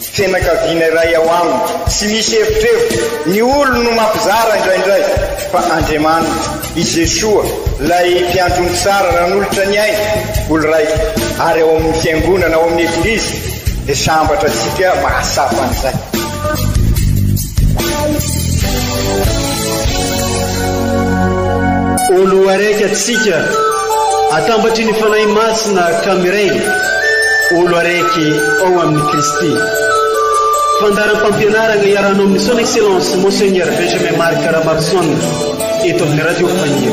Fianakaviana iray ao aminy. Tsy misy erotrerotro, ny olony no mampizara indraindray, fa Andriamaniny, i Jesoa, ilay Mpiandrony tsara nanolotra ny ainy, olo raika, ary ao amin'ny Fiangonana, ao amin'ny Eglizy, dia sambatra antsika mahatsapa an'izay. Oloaraiky atsika, atambatry ny Fanahy Masina ka miray, olo araiky ao amin'i Kristy. Fandaharam-pampianarana iarahanao amin'ny Son Excellence Monseigneur Benjamin Marc Ramarison eto amin'ny Radio Fahiny.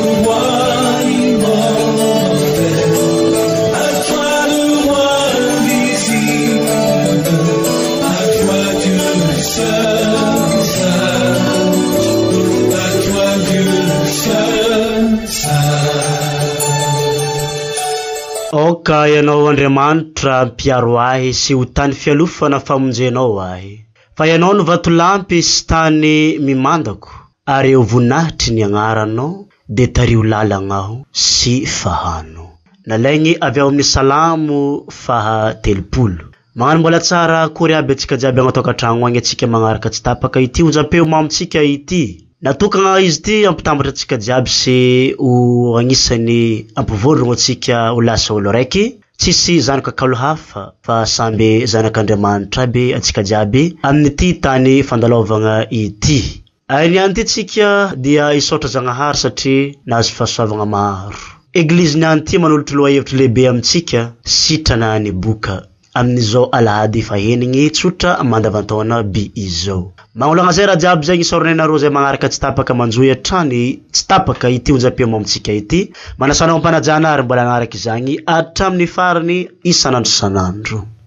Aoka Ianao Andriamanitra mpiaro ahy sy ho tany fialofana famonjenao ahy, fa Ianao no vatolampy sy tany mimandako, ary eo voninahitry ny Agnaranao dia tario lalagna aho sy fahano. Nalaigny avy ao amin'ny Salamo faha telopolo. Magnano mbola tsara akory aby atsika jiaby agnaty ankatragno agny atsika magnaraka tsy tapaka ity onjampeo mamontsika ity. Natokagna izy ity hampitambatra atsika jiaby sy ho agnisany hampivoarogno atsika ho lasa olo raiky tsisy zanaka kalo hafa fa samby zanak'Andriamanitra aby atsika jiaby amin'ity tany fandalaovagna ity. Ainy ihany ity tsika dia hisaotra Zagnahary satria nahazo fahasoavagna maro. Eglizy ny any ity manolotro lohahevitro lehibe amintsika sitrana any boka amin'izao alahady efa henigny tsotra mandavantaona by izao. Magnolagna zay raha jiaby zegny isaoragna ianareo zay magnaraka tsy tapaka manjohy hatrany tsy tapaka ity onjam-peo mamintsika ity. Manasa anao am-panajana ary mbola hagnaraka izagny hatramin'ny farany isan'andro isan'andro.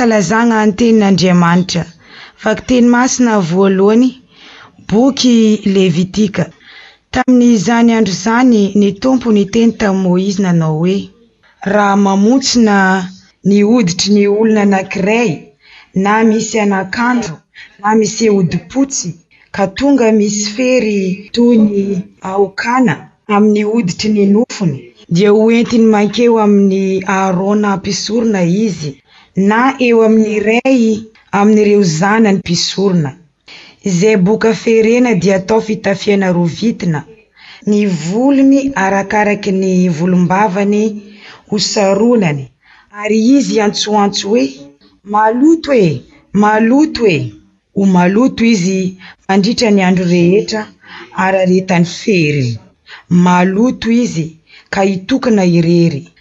Fankalazagna ny tenin'Andriamanitra. Vakiteny masina voalohany, boky Levitika. Tamin'izany andro izany ny Tompo niteny tamin'i Moizy nanao hoe, Raha mamontsina ny hoditry ny olona anankiray na misy anakandro na miseho hodipotsy ka tonga misy fery toy ny aokana amin'ny hoditry ny nofony dia ho entiny mankeo amin'i Aharôna mpisorona izy na eo amin'ny iray amin'ireo zanany mpisorona. Izay boka ferena dia atao fitafiana roa vitina, ny volony arakaraky ny volombavany ho saronany, ary izy iantsoantso hoe, Maloto e! Maloto e! Ho maloto izy mandritra ny andro rehetra araretan'ny feriny. Maloto izy ka hitokona irery.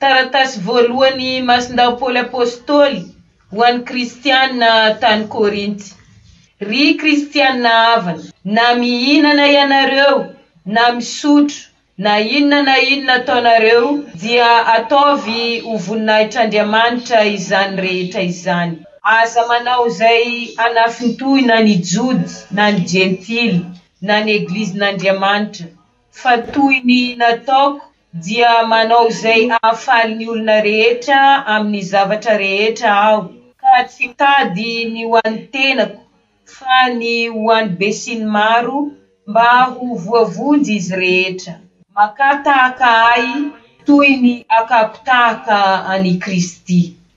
Taratasy voalohan' i Masindao Paoly Apôstôly ho an' ny Kristiana tany Kôrinty. Ry Kristiana havana, na mihinana ianareo, na misotro, na inona na inona ataonareo, dia ataovy ho voninahitr' Andriamanitra izany rehetra izany. Aza manao izay hanafintohina ny Jody na ny Jentily, na ny Eglizin' Andriamanitra, fa toy ny nataoko Dia manao izay hahafaly ny olona rehetra amin'ny zavatra rehetra aho. Ka tsy hitady ny ho an'ny tenako, fa ny ho an'ny besinimaro, mba ho voavonjy izy rehetra. Makà tahaka ahy, toy ny akako tahaka an'i Kristy.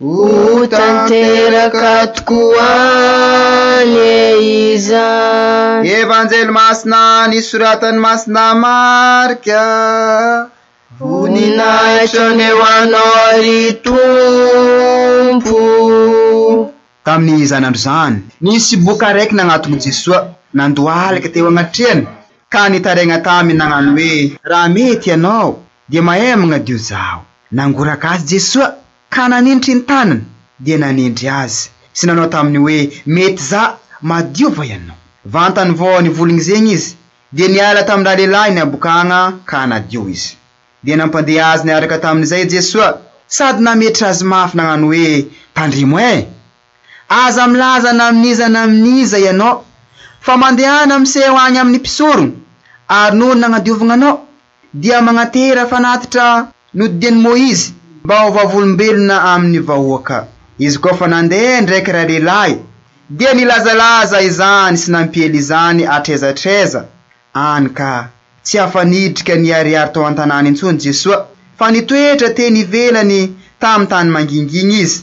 Ho tanteraka tokoa anie izany. Evanjely Masina nisoratan'i Masina Marka. Voninahitra anie ho Anao ry Tompo. Tamin'izany andro izany. Nisy boka araiky nagnaton'i Jesoa nandohalika teo agnatrehany ka nitaraigna taminy nagnano hoe. Raha mety ianao, Dia mahay magnadio zaho. Nangoraka azy Jesoa ka nanindry ny tanany dia nanendry azy sy nanao taminy hoe mety za madio va ianao. Vantany vao nivolgny zegny izy dia niala tamin-dralehilahy ny habokagna ka nadio izy. Dia nampandeha azy niaraka tamin'izay Jesoa sady nametra azy mafy nagnano hoe tandremo eh! Aza milaza na amin'iza na amin'iza ianao fa mandehana miseho agny amin'ny mpisorogno ary noho ny nagnadiovagna anao dia magnatehera fanatitra nodidian'i Moizy mba ho vavolombelona amin'ny vahoaka. Izy koa fa nandeha indraiky iray lehilahy, dia nilazalaza izany sy nampiely izany hatraiza hatraiza any ka. Tsy afa-nidrika niharihary tao an-tanàna intsony Jesoa, fa nitoetra teny ivelany tamin'ny tany mangingina izy.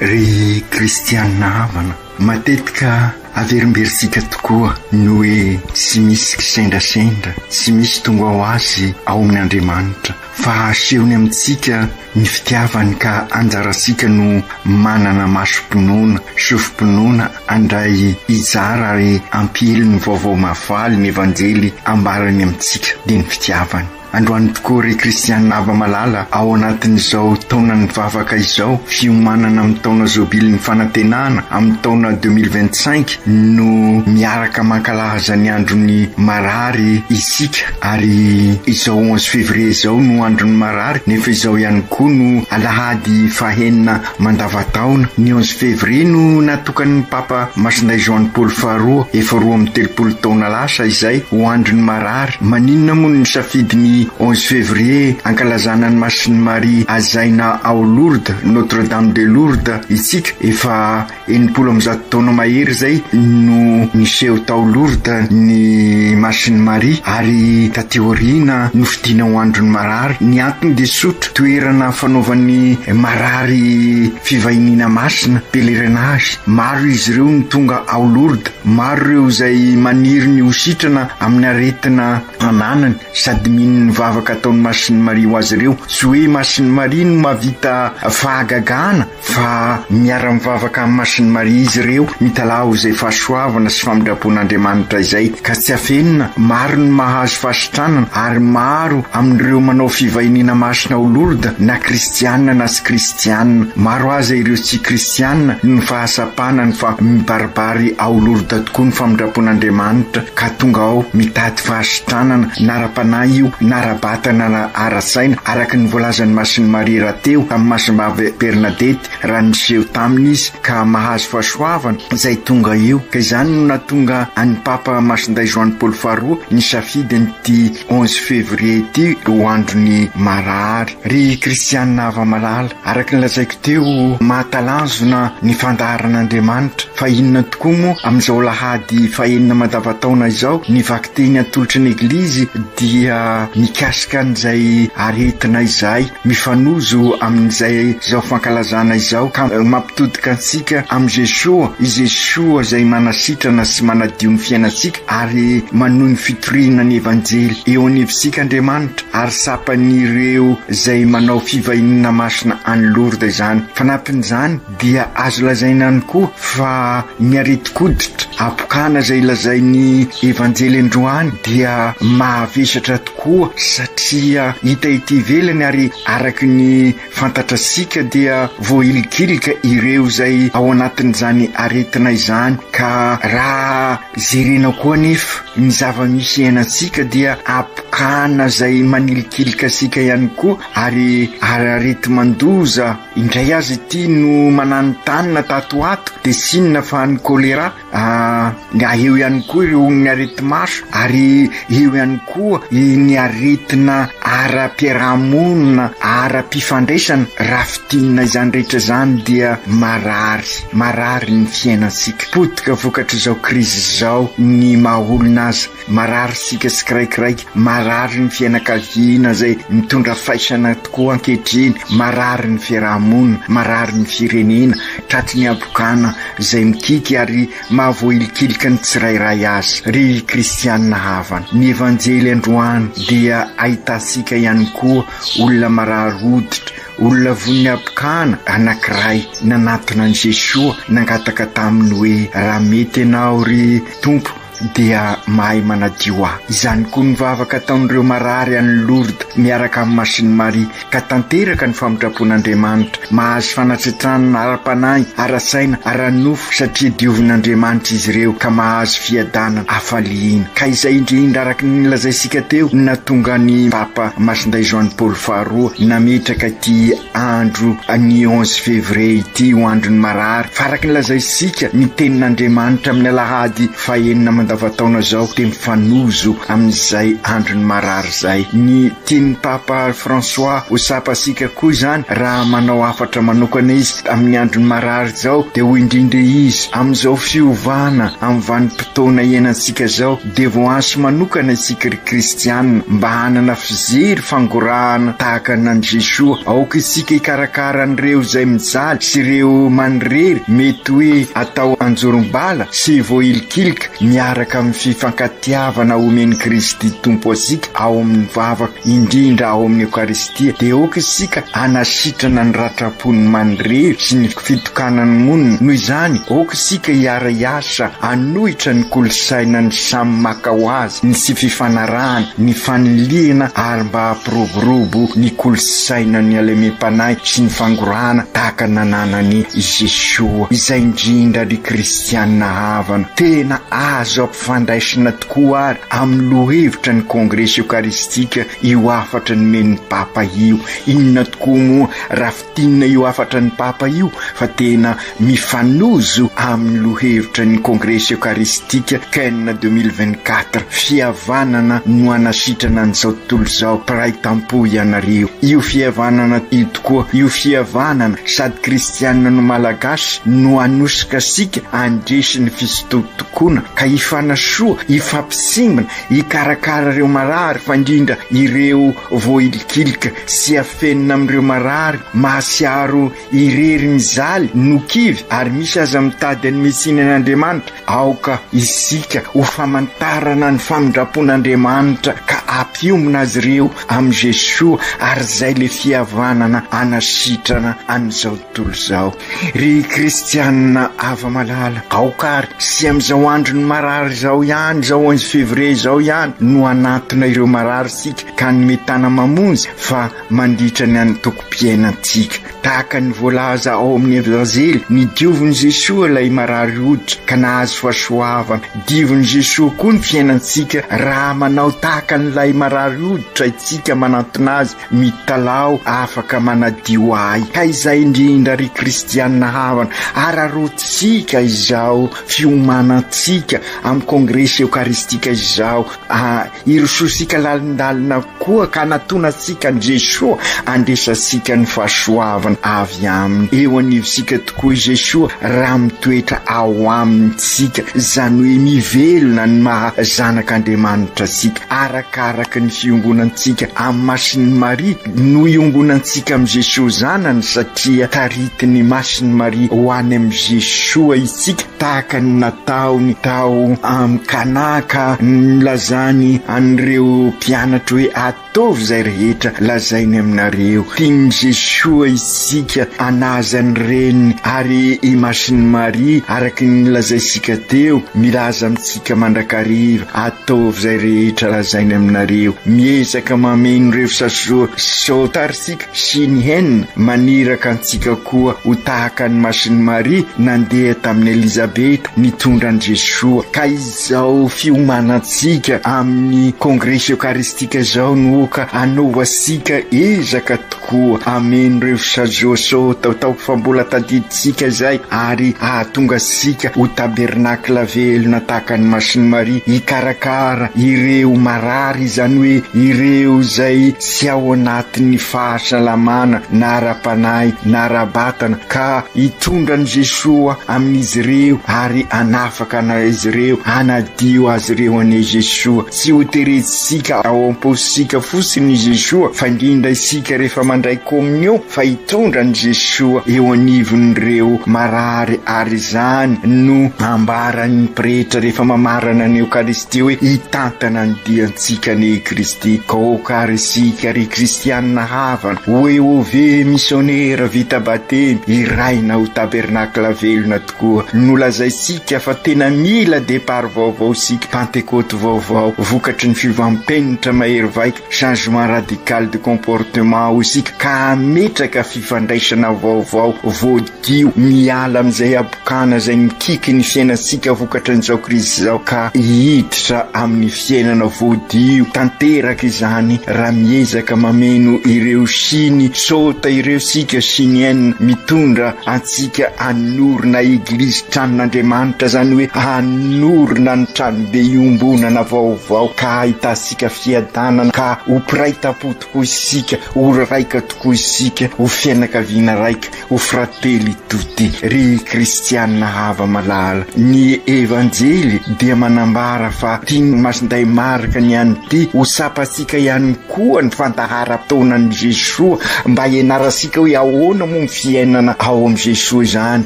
Ry kristianina havana, matetika averimberitsika tokoa ny hoe tsy misy kisendrasendra, tsy misy tonga ho azy ao amin' Andriamanitra, fa asehony amintsika ny fitiavany ka anjarantsika no manana masom-pinoana, sofim-pinoana handray hijara ary hampihely ny vaovao mahafaly ny Evanjely ambarany amintsika dia ny fitiavany. Androany tokoa ry Christian Aba Malala ao anatin'izao taonan'ny vavaka izao, fiomanana amin'ny taona zobilin'ny fanantenana amin'ny taona deux mille vingt cinq no miaraka mankalaza ny andron'ny marary isika ary izao onze février izao no andron'ny marary nefa izao ihany koa no alahady fahenina Mandavataona, ny onze février no natokan'ny Papa Masindahy Joany Paoly Faharoa, efa roa amby telopolo taona lasa izay, ho Andron'ny Marary. Maninona moa no nisafidy ny onze février hankalazana an'i Masin'i Maria Hazaina ao Lourdes, Notre-Dame de Lourdes, isika? Efa. Enimpolo amby zato taona mahery izay no niseho tao Lourdes ny Masin'i Maria ary taty aoriana nofidina ho andron'ny marary. Ny antony dia tsotra, toerana fanaovan'ny marary fivahiniana masina, pèlerinage. Maro izy ireo no tonga ao Lourdes, maro ireo izay maniry ny ho sitrana amin'ny aretina ananany sady mino ny vavaka ataon'i Masin'i Maria ho azy ireo. Tsy hoe Masin'i Maria no mahavita fahagagana Fa miara-mivavaka amin'ny Masin'i Maria izy ireo, mitalaho izay fahasoavana sy famindram-pon'Andriamanitra izay, ka tsy afenina, maro ny mahazo fahasitranana, ary maro amin'ireo manao fivahiniana masina ao Lourdes, na kristiana na tsy kristiana. Maro aza ireo tsy kristiana noho ny fahasampanany fa mibaribary ao Lourdes tokoa ny famindram-pon'Andriamanitra, ka tonga ao mitady fahasitranana, na ara-panahy io, na ara-batana na ara-tsaina, araka ny voalazan'ny Masin'i Maria. Teo amin'ny masin'i Bab'e Bernadette raha niseho taminy izy ka mahazo fahasoavana izay tonga eo. Ka izany no nahatonga an'i Papa Masindahy Joany Paoly Faharoa nisafidy an'ity onze février ity ho andron'ny marary. Ry kristiana hava-malala, araka ny lazaiko teo, mahatalanjona ny fandaharan'Andriamanitra. Fa inona tokoa moa amin'izao alahady fahenina mandavan-taona izao? Ny vakiteny atolotry ny Eglizy dia mikasika an'izay aretina izay. Mifanojo amin'izay izao fankalazana izao ka mampitodika antsika amin'i Jesoa, i Jesoa izay manasitrana sy manadio ny fiainantsika ary manohy ny fitoriana ny Evanjely. Eo anivontsika Andriamanitra ary tsapan'ireo izay manao fivahiniana masina any Lourdes izany. Fanampin'izany, dia azo lazaina ihany koa fa ny aretin-koditra habokana izay lazain'ny Evanjely androany dia mahavesatra tokoa satria hita ety ivelany ary araka ny fantatratsika dia voahilikilika ireo izay ao anatin'izany aretina izany ka raha jerena koa anefa ny zava-misy iainantsika dia habokana izay manilikilika antsika ihany koa ary arareti-mandoza Indray aza ity no mananontanona tato ho ato dia tsy inona fa ny choléra, ah, eo ihany koa ireo ny areti-maso ary eo ihany koa ny aretina ara-piarahamonina, ara-pifandraisana raha fintinina izany rehetra izany dia marary, marary ny fiainantsika. Potika vokatr'izao krizy izao ny maha olona aza. Marary isika tsiraikiraiky, marary ny fianakaviana izay mitondra faisana tokoa ankehitriny, marary ny fiaraha-monina, marary ny firenena, tratry ny habokana izay mikiky ary mahavoahilikilika ny tsirairay azy. Ry kristiana havana, ny Evanjely androany dia ahitantsika ihany koa olona marary hoditra, olona vonin'ny habokana anankiray nanatona an'i Jesoa nangataka taminy hoe, Raha mety Ianao, ry Tompo, dia mahay manadio ahy. Izany koa ny vavaka ataon'ireo marary any Lourdes miaraka amin'i Masiny Maria, ka tanteraka ny famintrapon'Andriamanitra. Mahazo fanatsetranana ara-panahy, ara-tsaina, ara-nofo, satria diovin'Andriamanitra izy ireo, ka mahazo fiadanana, hafaliana. Ka izay indrindra, araka ny nolazaintsika teo, no nahatonga an'i Papa Masindahy Joany Paoly Faharoa nametraka ity Andro ny onze février ity ho andron'ny marary fa araka ny lazaintsika ny tenin'Andriamanitra amin'ny alahady fahenina mandavan-taona izao dia mifanojo amin'izay andron'ny marary izay. Ny tian'ny Papa François ho tsapantsika koa izany raha manao hafatra manokana izy amin'ny andron'ny marary izao dia hoy indrindra izy, amin'izao fiovana amin'ny vanim-potoana iainantsika izao, dia voahanso manokana isika ry kristiana mba hanana fijery fangorahana tahaka anan'i Jesoa. Aoka isika hikarakara an'ireo izay mijaly sy ireo manirery mety hoe atao anjorom-bala sy voahilikilika miaraka amin'ny fifankatiavana omen'i Kristy Tompo antsika ao amin'ny vavaka, indrindra ao amin'ny Eokaristia. Dia aoka isika hanasitrana ny ratram-pon'ny manirery sy ny. fitokanan'ny monina. Noho izany, aoka isika hiara-hiasa hanohitra ny kolontsainan'ny samy maka ho azy, ny tsy fifanarahana, ny fanilihana ary mba hampiroborobo ny kolontsainan'ny halemem-panahy sy ny fangorahana tahaka ny nananan'i Jesoa, izay indrindra ry kristiana havana. Tena azo ampifandraisina tokoa àry amin'ny lohahevitra ny Kongresy Eokaristika io hafatra nomen'ny Papa io. Inona tokoa moa raha Tinona io hafatra ny Papa io fa tena mifanojo amin'ny lohevitra ny Kongresy Eokaristika Ken deux mille vingt quatre, Fihavanana no hanasitrana an'izao tontolo izao, mpiray tampo ianareo. Io fihavanana io tokoa, io fihavanana sady kristiana no Malagasy no hanosika antsika handresy ny fisintotokoana ka hifanasoa, hifampisimbina, hikarakara ireo marary fa indrindra ireo voailikilika. sy afenina amin'ireo marary mahatsiaro irery mizaly no kivy ary misy aza mitady an'i Messina ny Andriamanitra, aoka isika ho famantarana ny famindrampon'Andriamanitra ka ampiombona azy ireo amin'i Jesoa ary izay ilay fihavanana anasitrana an'izao tontolo izao. Ry Kristianina hava-malala, aoka ary sy amin'izao andron'ny marary izao ihany, izao onze février izao ihany no hanatona ireo marary isika, ka ny mitana mamonjy fa mandritra ny antokom-piainantsika. Tahaka ny voalaza ao amin'ny Evanjely, nidiovin'i Jesoa ilay marary hoditra ka nahazo fahasoavana. Diovin'i Jesoa koa ny fiainantsika raha manao tahaka an'ilay marary hoditra isika manantona Azy, Mitalaho afaka manadio ahy. Ka izay indrindra ry kristiana havana, araroantsika izao fiomanantsika amin'ny kongresy eokaristika izao, Ah, irosoantsika lalindalina koa ka anatona antsika an'i Jesoa handraisantsika ny fahasoavana avy Aminy. Eo anivontsika tokoa i Jesoa raha mitoetra ao aminy tsika, izany hoe mivelona ny maha zanak'Andriamanitra antsika, arakaraka ny fiongonantsika amin'ny Masin'i Maria. No iongonantsika amin'i Jesoa Zanany satria taritin'ny Masin'i Maria ho any amin'i Jesoa itsika. tahaka ny nataony tao amin'i Kana ka nilazany an'ireo mpianatra hoe, Ataovy izay rehetra lazainy aminareo. Tian'i Jesoa isika hanaja ny Reniny, ary i Masin'i Maria, araka ny nolazaintsika teo, milaza amintsika mandrakariva, Ataovy izay rehetra lazainy aminareo. Miezaka mameno ireo fisasoa sao tara isika. Shin Hyen, maniraka antsika koa ho tahaka an'i Masin'i Maria nandeha tamin'i Elizabeth nitondra an'i Jesoa. Ka izao fiomanantsika amin'ny Kongresy Eokaristika izao no oka hanaovantsika ezaka tokoa hameno ireo sazoso taotaoko fa mbola tadidintsika izay ary hahatonga antsika ho tabernakla velona tahaka an'i Masin'i Maria hikarakara ireo marary, izany hoe ireo izay tsy ao anatin'ny fahasalamana na ara-panahy na ara-batana, ka hitondra an'i Jesoa amin'izy ireo ary hanafaka azy ireo, hanadio azy ireo anie Jesoa. Tsy hoterentsika ao am-paosika fotsiny i Jesoa fa indrindra isika rehefa mandray Komunion fa hitondra an'i Jesoa eo anivon'ireo marary ary izany no ambaran'ny Pretra rehefa mamarana ny Eokaristia. dia hoe hitantana ny diantsika anie i Kristy, ka aoka ary isika ry Kristianina havana ho Eôve misionera vita batemy hiraina ho tabernakla velona tokoa nolazaintsika fa tena mila depart vaovao isika, pantekôty vaovao vokatry ny fiovam-penitra mahery vaika. changement radical de comportement hoy isika ka hametraka fifandraisana vaovao voadio miala amin'izay habokana izay mikiky ny fiainantsika vokatry ny zao krizy izao ka hiditra amin'ny fiainana voadio tanteraka izany raha miezaka mameno ireo siny sota ireo sika sinienne mitondra antsika anorina eglizy tranon'Andriamanitra izany hoe anorina ny tranobe iombonana vaovao ka ahitasi Tika fiadanana ka ho mpiray tampo tokoa isika, ho raika tokoa isika, ho fianakaviana raika, ho fratelli tutti. Ry kristiana hava malala, ny Evanjely dia manambara fa tian'ny Masindahy Marka ny an'ity ho tsapantsika ihany koa ny fandaharam-potoanan'i Jesoa mba hianarantsika hoe ahoana moa ny fiainana ao amin'i Jesoa izany.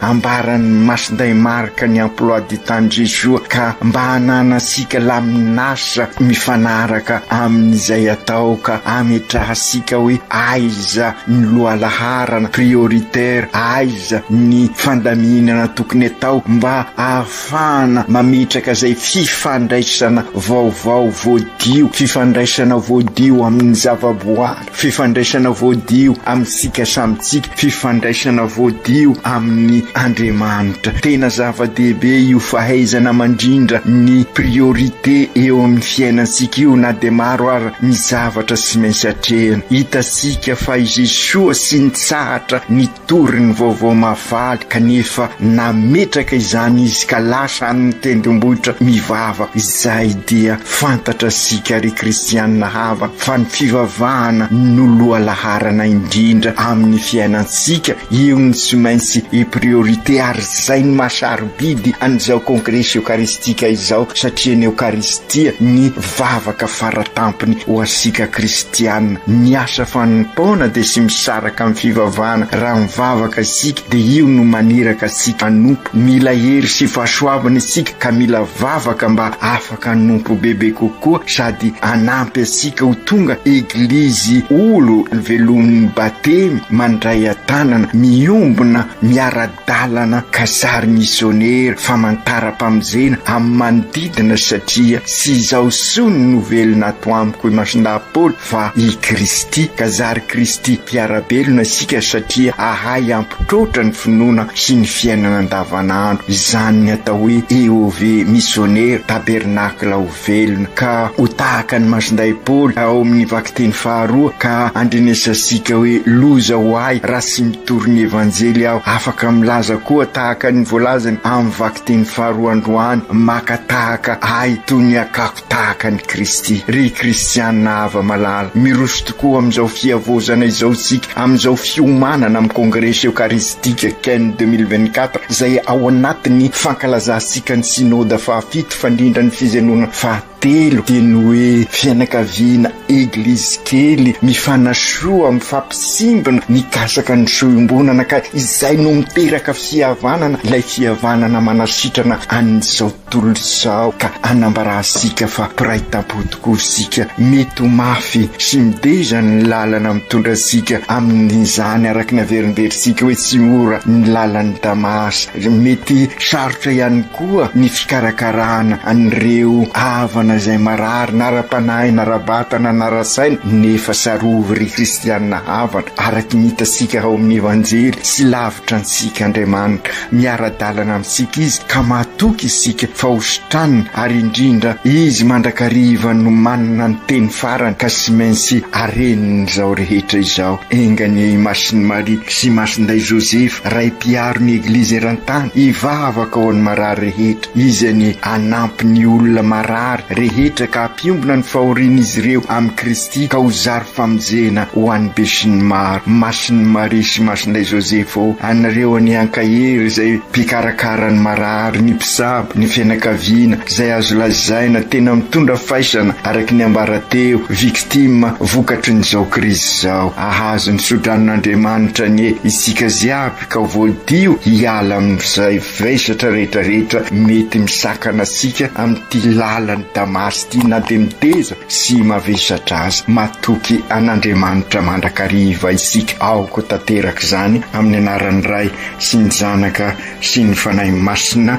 Ambaran'ny Masindahy Marka ny emploi du temps-n'i Jesoa ka mba hananantsika laminasa Sa mifanaraka amin'izay atao ka ametrahantsika hoe aiza ny lohalaharana, prioritaire, aiza ny fandaminana tokony atao mba ahafahana mametraka izay fifandraisana vaovao voadio, fifandraisana voadio amin'ny zavaboary? Fifandraisana voadio amintsika samy tsika, fifandraisana voadio amin'ny Andriamanitra. Tena zava-dehibe io fahaizana mandrindra ny priorité eo amin'ny fiainantsika io na dia maro aza ny zavatra tsy maintsy atrehina. Hitantsika fa i Jesoa tsy nitsahatra ny. Tory ny vaovao mahafaly kanefa nametraka izany izy ka lasa any ny tendrombohitra mivava izay dia fantatra sika ry kristianina hava fa ny fivavahana no lohalaharana indrindra amin'ny fiainantsika eo no tsy maintsy e priorité ary zay ny maha sarobidy an'izao kongresy eokaristika izao satria ny eokaristia ny mpivavaka fara tampony ho antsika kristiana. Miasa fanompoana dia tsy misaraka amin'ny fivavahana. Raha mivavaka isika dia io no maniraka antsika hanompo. Mila hery sy fahasoavana isika ka mila vavaka mba afaka hanompo bebe kokoa sady hanampy antsika ho tonga Eglizy olo velomin'ny Batemy mandray an-tanana, miombona miara Dalana ka sary misionera famantaram-pamonjena amin'ny manodidina satria tsy izaho sony no velona ato amiko imason-dahy Paoly fa i Kristy ka zary Kristy mpiara-belona isika satria ahay hampitroatra ny finoana sy ny fiainana andavanandro izany ny atao hoe EOV misionera tabernacle of Velona ka ho tahaka ny mason-dahy Paoly ao amin'ny vakiteny faharoa ka andrenesasika hoe loza ho ahy raha tsy mitory ny Evanjely aho. Afaka milaza koa tahaka ny voalazany amin'ny vakiteny faharoa androany, maka tahaka ahy toy ny akako tahaka an'i Kristy. Ry kristiana hava-malala, miroso tokoa amin'izao fihavaozana izao isika amin'izao fiomanana amin'ny Kongresy Eokaristika Ken deux mille vingt-quatre izay ao anatin'ny fankalazantsika ny Synoda faha Fandrindra ny fijenoana fahatelo dia ny hoe fianakaviana eglizy kely mifanasoa mifampisimbina mikasaka ny soa iombonana ka izay no miteraka fihavanana ilay fihavanana manasitrana an'izao tontolo izao ka anambarantsika fa mpiray tampo tokoa isika mety ho mafy sy mideza ny lalana mitondra antsika amin'izany araka ny averinverintsika hoe tsy mora ny lalan'i Damasy Mety sarotra ihany koa ny fikarakarana an'ireo havana izay marary na ara-panahy na ara-batana na ara-tsaina nefa tsarovy ry kristiana havana, araka ny hitantsika ao amin'ny Evanjely, tsy lavitra antsika Andriamanitra, miara-dalana amintsika Izy ka mahatoky isika fa hositraniny ary indrindra Izy mandrakariva no manana ny teny farany ka tsy maintsy areniny izao rehetra izao. Enga anie i Masin'i Maria sy i Masindahy Josefa. Ray mpiaro ny Eglizy eran-tany, hivavaka ho an'ny marary rehetra, Izy anie hanampy ny olona marary rehetra ka hampiombona ny fahorian'izy ireo amin'i Kristy ka ho zary famonjena ho an'ny besinimaro. Masin'i Maria sy Masinay Joseph ô, anareo anie ankahery izay mpikarakara ny marary, ny mpisabo, ny fianakaviana, izay azo lazaina tena mitondra faisana araka ny ambara teo, victimes, vokatry ny izao krizy izao. Ahazo ny sodranon'Andriamanitra anie isika ziaby ka voadio hiala amin'izay vesatra retraretra mety misakana asika amin'ity lalan'i Damasy ity na dia miteza sy mavesatra aza. Matoky an'Andriamanitra mandrakariva isika aoka tanteraka izany amin'ny anaran'ny Ray sy ny Zanaka sy ny Fanahy Masina.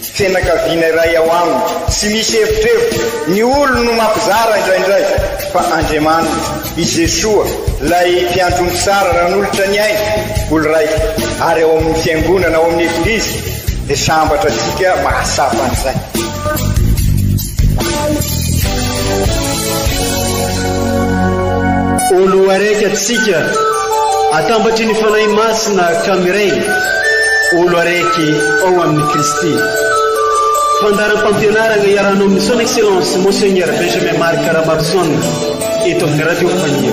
Tsy fianakaviana iray ao aminy. Tsy misy evitrevitra. Ny olony no mampizara indraindray. Fa Andriamaniny, i Jesoa, ilay Mpiantso Mitsara nanolotra ny ainy, olon-draika, ary ao amin'ny Fiangonana, ao amin'ny Eglizy, dia sambatra antsika mahatsapa an'izay. Olo araiky atsika, atambatry ny Fanahy Masina ka miray, olo araiky ao amin'i Kristy. Fandaharam-pampianarana iarahanao amin'ny Son Excellence Monseigneur Benjamin Marc Ramarison eto amin'ny Radio Fania.